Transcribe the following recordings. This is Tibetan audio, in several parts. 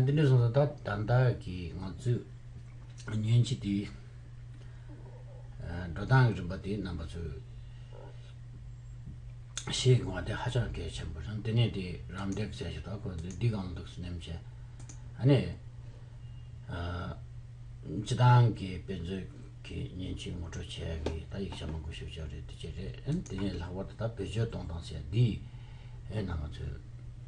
འདི་འདྲའི་བཟང་ས་ད་ལྟ་ད་ལྟ་གི་ང་ཚོས་ཉོན་ཅིག་འདི་འགྲོ་སྟངས་ཀྱི་རིམ་པ་འདི་རྣམ་པ་ཚོས་ཤེས་དགོས་པ་འདི་ཧ་ཅང་གལ་ཆེན་པོ་རེད་དེ་ནས་འདི་རམ་འདེགས་བྱས་ཤིག་དང་ཁོ་ཚོས་འདི་གང་འདུག་ཟེར་ནས་བྱས་ཨ་ནས་སྤྱི་བཏང་གི་དཔེ་མཛོད་ཀྱི་ཉོན་ཅིག་ངོ་སྤྲོད་བྱས་ཀྱི་ད་ཡིག་ཆ་མང་པོ་ཞིག་བྱས་རེད་དེ་བྱས་རེད་དེ་ནས་ལྷག་པར་དུ་ད་བེད་སྤྱོད་གཏོང་སྟངས་བྱས་འདིས་ཨེ་རྣམ་པ་ཚོས།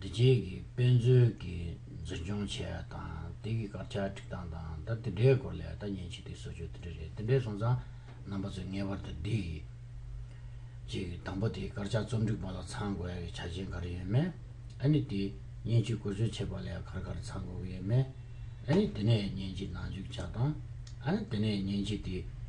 འདི་རྗེས་ཀྱི་དཔེ་མཛོད་ཀྱིས་འཛིན་སྐྱོང་བྱས་པ་དང་དེ་གི་སྐར་ཆ་བསྒྲིགས་སྟངས་དང་ད་དེ་འདྲའི་སྐོར་ལས་ད་ཉིན་ཕྱི་དེ་སོ་ཅོག་དེ་འདྲ་རེད་དེ་འདྲས་སོང་ཙང་རྣམ་པ་ཚོས་ངེས་པར་དུ་འདི་གི་རྗེས་ཀྱི་དང་པོ་དེ་སྐར་ཆ་རྩོམ་སྒྲིག་པ་ལ་ཚང་དགོས་ཡ་གི་ཆ་རྐྱེན་ག་རེ་ཡོད་མེད་ཨ་ནི་དེ་ཉིན་ཕྱི་བཀོལ་སྤྱོད་བྱེད་པ་ལ་ཡ་གར་ག་རེ་ཚང་དགོས་ཀྱི་ཡོད་མེད་ཨ་ནི་དེ་ནས་ཉིན་ཕྱི་ནང་འཇུག་བྱ་སྟངས་ཨ་ནི་དེ་ནས་ཉིན་ཕྱི་དེ་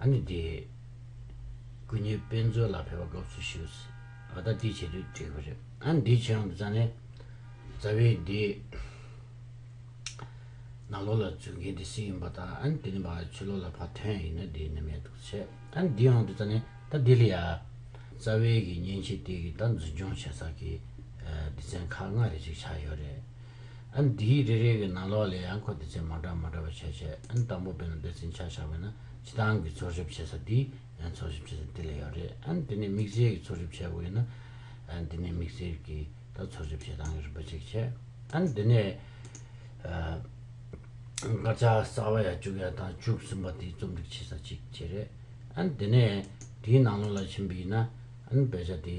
ཨ་ནི་འདི། སྐུ་ཉིད་དཔེ་མཛོད་ལ་ཕེབས་པ་དགའ་བསུ་ཞུས། ཨ་ད་དེ་བྱེད་དུས་འགྲིག་པ་རེད། ཨ་ནི་འདི་བྱེད་རྩ་ནས། རྩ་བའི་འདི། ནང་ལོགས་ལ་འཛུལ་མཁན་དེ་སི་ཡིན་པ་དང་ཨ་ནི་དེ་ནི་བར་ཆོད་ལོགས་ལ་ཕ་དོན་ཡིན་ན་འདི་ནི་མེད་འདུག་བྱས། ཨ་ནི་འདི་འང་འདི་རྩ་ནས་ད་ལྡི་ལི་ཡ། རྩ་བའི་གི་མཉེན་ཆས་དེ་གི་ད་འཛིན་སྐྱོང་བྱས་ཚར་གི། སྡེ་ཚན་ཁག་ལྔ་རེ་ཅིག་ཆགས་ཡོད་རེད། འདིའི་རེ་རེ་གི་ནང་ལོགས་ལས་ཡང་ཁོ་དེ་ཚོས་མ་འདྲ་མ་འདྲ་བ་བྱས་བྱས་དང་པོ་བོད་ནང་བདེ་བཙན་ཆགས་ཆགས་བས་ན་སྤྱི་བཏང་གི་འཚོལ་ཞིབ་བྱེད་ས་འདི་འཚོལ་ཞིབ་བྱེད་ས་འདི་ལས་ཡོད་རེད་དེ་ནས་མིག་སེར་གྱི་འཚོལ་ཞིབ་བྱེད་དགོས་ཡོད་ན་འདི་ནས་མིག་སེར་གྱི་དང་འཚོལ་ཞིབ་བྱེད་སྟངས་ཀྱི་རིམ་པ་གཅིག་བྱེད་འདི་ནས་སྐར་ཆ་གསར་བ་ཡ་བཅུ་གཡར་དང་བཅུ་གསུམ་པ་དེ་རྩོམ་སྒྲིག་བྱེད་ས་གཅིག་བྱེད་རེད་དེ་ནས་དེའི་ནང་ལོགས་ལ་ཕྱིན་པ་ཡིན་ན་བེད་ཆ་དེ།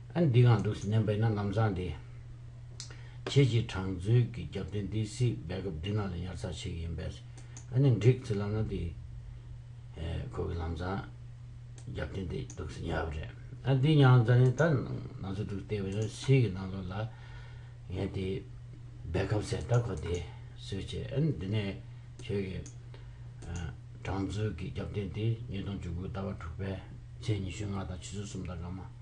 ཨ་འདི་གང་འདུག་ཟེར་ནས་འབད་ན་ལམ་བཟང་དེ། ཁྱེད་ཀྱིས་དྲང་མཛོད་ཀྱི་རྒྱབ་རྟེན་དེ་སྲིད་སྦས་སྐབས་འདི་ན་ལ་ཉར་ཚགས་བྱེད་ཀྱི་ཡིན་པས། ཨ་ནི་འགྲིག་ཚེ་ལབ་ན་དེ། ཁོ་གི་ལམ་བཟང། རྒྱབ་རྟེན་དེ་འདུག་ཟེར་ཉར་བ་རེད། ཨ་འདི་མྱང་ཙ་ནས་ད་ནང་ཚོད་དྲུག་བལྟས་པས་ན་ཕྱི་གི་ནང་ལོགས་ལ། ངས་དེ། སྦས་སྐབས་ཟེར་ད་ཁོ་དེ། སོས་ཆེ་ཨ་ནི་འདི་ནས་ཁྱོད་ཀྱི། དྲང་མཛོད་ཀྱི་རྒྱབ་རྟེན་དེ་ཉིས་སྟོང་བཅུ་དགུའི་ཟླ་བ་དྲུག་པའི། ཚེས་ཉི་ཤུ་ལྔ་དང་ཕྱི་ཚུལ་གསུམ་དང་སྐར་མ།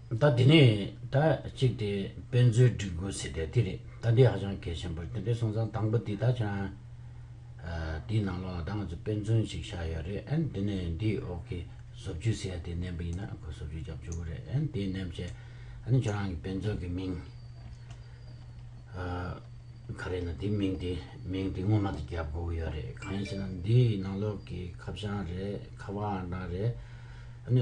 ད་དེ་ནས་ད་གཅིག་དེ་དཔེ་མཛོད་སྒྲིག་དགོས་ཟེར་དེ་དེ་རེད་ད་འདི་ཧ་ཅང་གལ་ཆེན་པོ་རེད་དེ་འདྲའི་སོང་ཙང་དང་པོ་དེ་ད་ཆ་དེའི་ནང་ལོགས་ད་ང་ཚོ་དཔེ་མཛོད་ཅིག་བཞག་ཡོད་རེད་ཨན་དེ་ནས་འདི་འོག་གི་བཟོ་བཅོས་ཟེར་ཡ་དེ་བསྣན་པ་ཡིན་ན་ཁོ་བཟོ་བཅོས་རྒྱབ་འཇུག་གི་རེད་ཨན་དེ་བསྣན་བྱས་ཨ་ནི་ཁྱོད་རང་གི་དཔེ་མཛོད་ཀྱི་མིང་ག་རེད་ན་དེ་མིང་དེ་མིང་དེ་སྔོན་མ་དེ་རྒྱབ་དགོས་ཀྱི་ཡོད་རེད་གང་ཡིན་ཟེར་ན་འདིའི་ནང་ལོགས་ཀྱི་ཁ་བྱང་རེད་ཁ་བ་འདྲ་རེད་ཨ་ནི།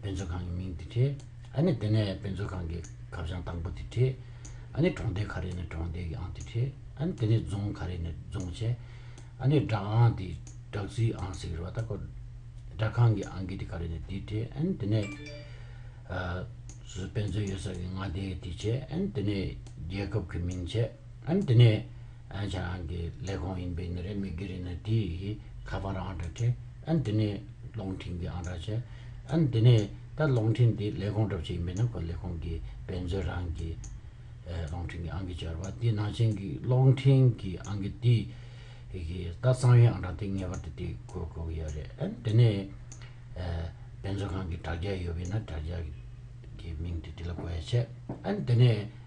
དཔེ་མཛོད་ཁང་གི་མིང་དེ་བྲིས། ཨ་ནི་དེ་ནས་དཔེ་མཛོད་ཁང་གི་ཁ་བྱང་དང་པོ་དེ་བྲིས། ཨ་ནི་གྲོང་སྡེ་ག་རེ་ནས་གྲོང་སྡེ་གི་ཨང་དེ་བྲིས། ཨ་ནི་དེ་ནས་རྫོང་ག་རེ་ནས་རྫོང་བྱས། ཨ་ནི་སྦྲག་ཨང་དེ་སྦྲག་རྩིས་ཨང་ཟེར་གི་རེད་བ་ད། སྦྲག་ཁང་གི་ཨང་ཀི་དེ་ག་རེ་ནས་དེ་བྲིས། ཨ་ནི་དེ་ནས་དཔེ་མཛོད་ཡོད་ས་གི་མངའ་སྡེ་དེ་བྱས། ཨ་ནི་དེ་ནས་རྒྱལ་ཁབ་གི་མིང་བྱས། ཨན་དེ་ནས་ཨན་ཆ་རང་གི་ལས་ཁང་ཡིན་པའི་ནི་རེ་མི་གི་རེ་ནི་དེ་ཡི་ཁ་པར་ཨང་གྲ་ཁྲེ་ཨན་དེ་ནས་ལོང་ཁྲིན་གི་ཨང་གྲ་ཆེ་ཨན་དེ་ནས་ད་ལོང་ཁྲིན་དེ་ལས་ཁང་གྲབ་ཆེ་ཡིན་པའི་ནི་ཁོ་ལས་ཁང་གི་བེན་ཛོན་རང་གི་ལོང་ཁྲིན་གི་ཨང་གི་ཆར་བ་དེ་ནང་ཆེན་གི་ལོང་ཁྲིན་གི་ཨང་གི་དེ་ཡི་ད་གཙང་ཡོན་ཨང་གྲ་དེ་ངེས་པར་དུ་དེ་ཁོ་དགོས་གི་ཡོད་རེད་ཨན་དེ་ནས་བེན་ཛོན་ཁང་གི་དྲ་རྒྱ་ཡོད་པའི་ནི་དྲ་རྒྱ་གི་མིང་དེ་དེ་ལ་གོ་ཡ་ཆེ་ཨན་དེ་ནས་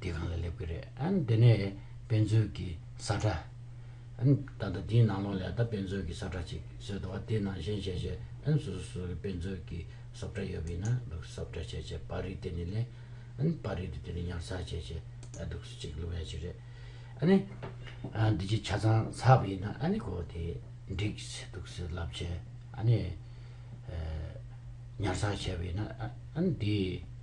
དེ་གང་ལ་སླེབས་ཀྱི་རེད། དེ་ནས་དཔེ་མཛོད་ཀྱི་ས་ཁྲ། ད་ལྟ་དེའི་ནང་ལོགས་ལས་ད་དཔེ་མཛོད་ཀྱི་ས་ཁྲ་ཅིག་བཟོས་འདུག་བ་དེའི་ནང་གཞན་བྱས་བྱས་ཨན་སོ་སོ་སོ་གི་དཔེ་མཛོད་ཀྱི་སོབ་ཁྲ་ཡོད་པ་ཡིན་ན་འདུག་སོབ་ཁྲ་བྱས་བྱས་པར་རིས་དེ་ནས་ལེན། པར་རིས་དེ་དེ་ནས་ཉར་ཚགས་བྱས་བྱས་ཨ་འདུག་སུ་ཅིག་ལུས་ཡ་ཅིག་རེད། ཨ་ནི། འདི་ཅིག་ཆ་ཚང་ཚགས་པ་ཡིན་ན་ཨ་ནི་གོ་དེ་འགྲིགས་བྱས་འདུག་སུ་ལབ་བྱས་ཨ་ནི། ཉར་ཚགས་བྱས་པ་ཡིན་ན་ཨ་ནི་དེའི།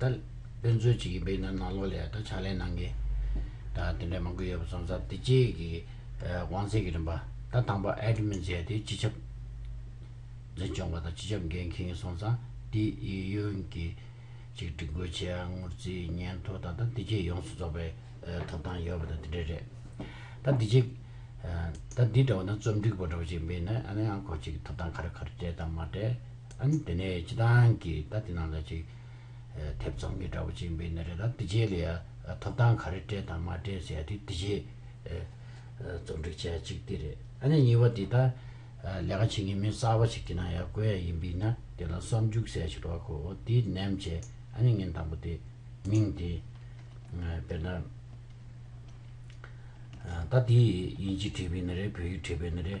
ད་དཔེ་མཚོན་བྱེད་ཀྱི་དཔེ་ན་ནང་ལོགས་ལས་ད་ཕྱག་ལེན་གནང་གི། ད་དེ་འདྲ་མང་པོ་ཡོད་པ་ཙམ་ཙམ་དེ་རྗེས་ཀྱི་དབང་ཚད་ཀྱི་རིམ་པ་ད་དང་པ་ཨེ་འགྲུབ་མིན་བྱས་ཏེ་སྤྱི་ཁྱབ་འཛིན་སྐྱོང་པ་དང་སྤྱི་ཁྱབ་འགན་འཁི་ངི་སོང་ཙང་དེ་ཡི་ཡོན་གྱི་ཅིག་སྒྲིག་དགོས་ཆེ་ཨ་ངུར་རྩིས་སྙན་ཐོ་ད་ད་དེ་རྗེས་ཡོངས་སུ་རྫོགས་པའི་ཐོབ་ཐང་ཡོད་པ་ད་དེ་འདྲ་རེད། ད་དེ་རྗེས་ད་འདི་འདྲ་བ་ན་རྩོམ་སྒྲིག་པ་འདྲ་བོ་ཅིག་མིན་ན་ཨ་ནི་ཨང་ཁོ་ཅིག་ཐོབ་ཐང་ག་རེ་ག་རེ་སྤྲད་དང་མ་སྤྲད། ཨང། དེ་ནས་སྤྱི་བཏང་གིས་ད་དེ་ནང་ལ་ཅིག། ཐེབས་ཚོང་གི་དྲ་བ་ཅིག་འབེལ་ནས་རེད་ད་དེ་རྗེས་ལ་ཡ། ཐོབ་ཐང་ག་རེ་སྤྲད་དང་མ་སྤྲད་ཟེར་ཡ་དེ་དེ་རྗེས། རྩོམ་སྒྲིག་བྱས་ཡ་ཅིག་དེ་རེད། ཨ་ནས་གཉིས་པ་དེ་ད། ལས་ཀ་བྱེད་མཁན་མི་གསར་བ་ཞིག་དེ་ནང་ཡ་བཀོལ་ཡ་ཡིན་པས་ན་དེ་ལ་བསམ་འཇུག་གསལ་ཞིག་རོགས་གོ་དེ་ནམ་བྱས་ཨ་ནས་ངན་དང་པོ་དེ། མིང་དེ། དཔེར་ན། ད་དེ། ཡིན་གཅིག་བྲིས་པས་ན་རེད་བོད་ཡིག་བྲིས་པས་ན་རེད།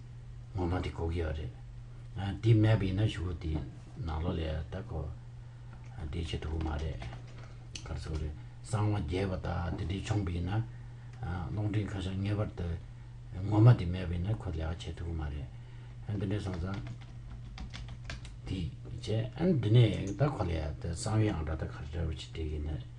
ངོ་མ་དེ་གོ་གི་ཡོད་རེད། དེ་མེད་པ་ཡིན་ན་ཞུ་གུ་དེ་ནག་ལོ་ལས་ད་གོ་དེ་བྱེད་ཐུབ་གི་མ་རེད། ག་ཚོད་རེད་གསང་བ་རྒྱས་པ་དག་དེ་འདྲས་བྱུང་པ་ཡིན་ན། རླུང་འཕྲིན་ཁ་ཤགས་ངེས་པར་དུ་ངོ་མ་དེ་མེད་པ་ཡིན་ན་ཁོ་ལས་ཀ་བྱེད་ཐུབ་གི་མ་རེད། འདི་འདྲས་སོང་ཙང། དེ་བྱས་འདི་ནས་ད་གོ་ལས་ད་གསང་བའི་ཨང་གྲངས་ད་ག་རེ་རེད་བྱེད་དགོས་ཀྱི་ཡིན།